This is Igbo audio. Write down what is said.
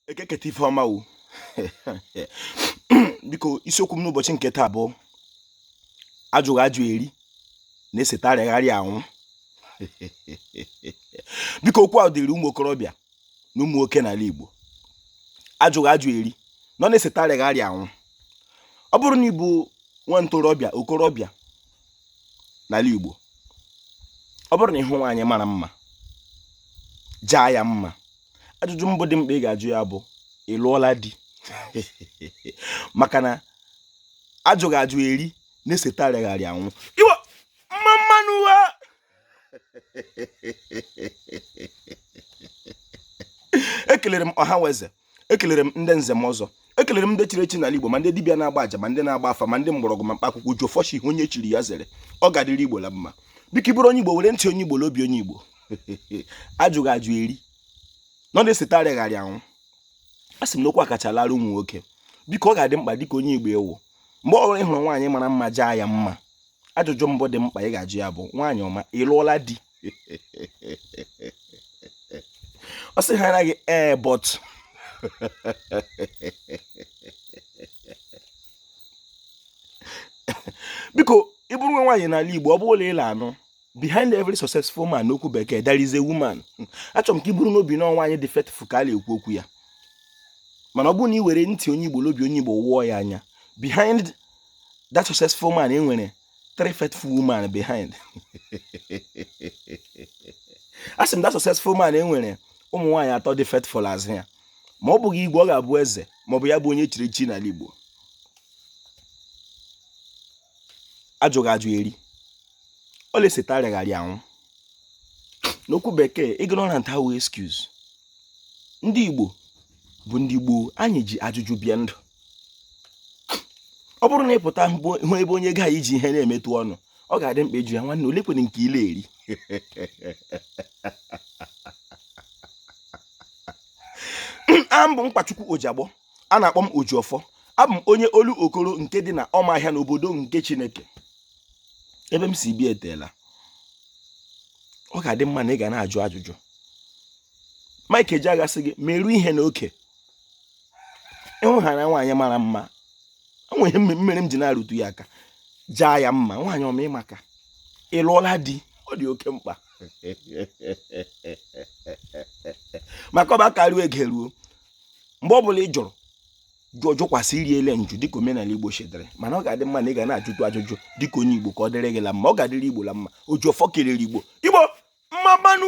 Eke keta ife ọma o biko isiokwu m n'ụbọchị nke taa bụ ajụghị ajụ eri na-eseta arịaghị arịa anwụ biko okwu a dịrị ụmụ okorobịa na ụmụ nwoke n'ala Igbo ajụghị ajụ eri nọ na-eseta arịaghị arịa anwụ ọ bụrụ na ị bụ nwa ntorobịa okorobịa n'ala Igbo ọ bụrụ na ị hụ nwaanyị mara mma jaa ya mma ajụjụ mbụ dị mkpa ị ga-ajụ ya bụ ị lụọla di maka na ajụghị ajụ eri na-eseta arịaghị arịa anwụ Igbo mma mma nụ wa ekelere m ọha nwe eze ekelere m ndị nze ma ọzọ ekelere m ndị chiri echi n'ala igbo ma ndị dibịa na-agba aja ma ndị na-agba afa ma ndị mgbọrọgwụ ma mkpa akwụkwọ ojiọfọ sị ihe onye chiri ya zere ọ ga-adịrị igbo la mma biko ị bụrụ onye igbo were ntị onye igbo na obi onye igbo ajụghị ajụ eri nọ na-eseta arịgharị anwụ a sị m na okwu a kacha lara ụmụ nwoke biko ọ ga-adị mkpa dịka onye igbo ị wụ mgbe ọ bụla ị hụrụ nwaanyị mara mma jaa ya mma ajụjụ mbụ dị mkpa ị ga-ajụ ya bụ nwaanyị ọma ị lụọla di ọ sị ha anaghị ee eh, but biko ị bụrụ nwa nwaanyị n'ala Igbo ọ bụrụ na ị la-anụ behind every successful man n'okwu bekee there is a woman achọrọ m ka ị buru n'obi na nwaanyị dị faithful ka a na-ekwu okwu ya mana ọ bụrụ na ị were ntị onye Igbo na obi onye Igbo wụọ ya anya behind that successful man e nwere three faithful women behind a sị m that successful man e nwere ụmụ nwaanyị atọ dị faithful azụ ya ma ọ bụghị igwe ọ ga-abụ eze ma ọ bụ ya bụ onye chiri echi n'ala Igbo ajụghị ajụ eri ọ na-eseta arịaghị arịa anwụ n'okwu bekee ignorant awụghị excuse ndị Igbo bụ ndị gboo anyị ji ajụjụ bịa ndụ ọ bụrụ na ị pụta hụ ebe onye gaghị iji ihe na-emetụ ọnụ ọ ga-adị mkpa ịjụ ya nwanne oleekwanụ nke ị la-eri abụ m nkwachukwu ojiagbọ a na-akpọ m ojiọfọ abụ m onye olokoro nke dị na ọmaahịa n'obodo nke chineke ebe m si bịa eteela ọ ga-adị mma na ị ga na-ajụ ajụjụ Mike Ejeagha sị gị meru ihe n'oke ị hụ na nwaanyị mara mma o nwere ihe mere m ji na-arụtụ ya aka jaa ya mma nwaanyị ọma ị maka ị lụọla di ọ dị oke mkpa maka ọba karịa ege ruo mgbe ọ bụla ị jụrụ jụọ jụkwasị iri ele njụ dịka omenala igbo si dịrị mana ọ ga-adị mma na ị ga na-ajụtụ ajụjụ dịka onye igbo ka ọ dịrị gị la mma ọ ga-adịrị igbo la mma ojiọfọ kelere igbo igbo mma mma nụ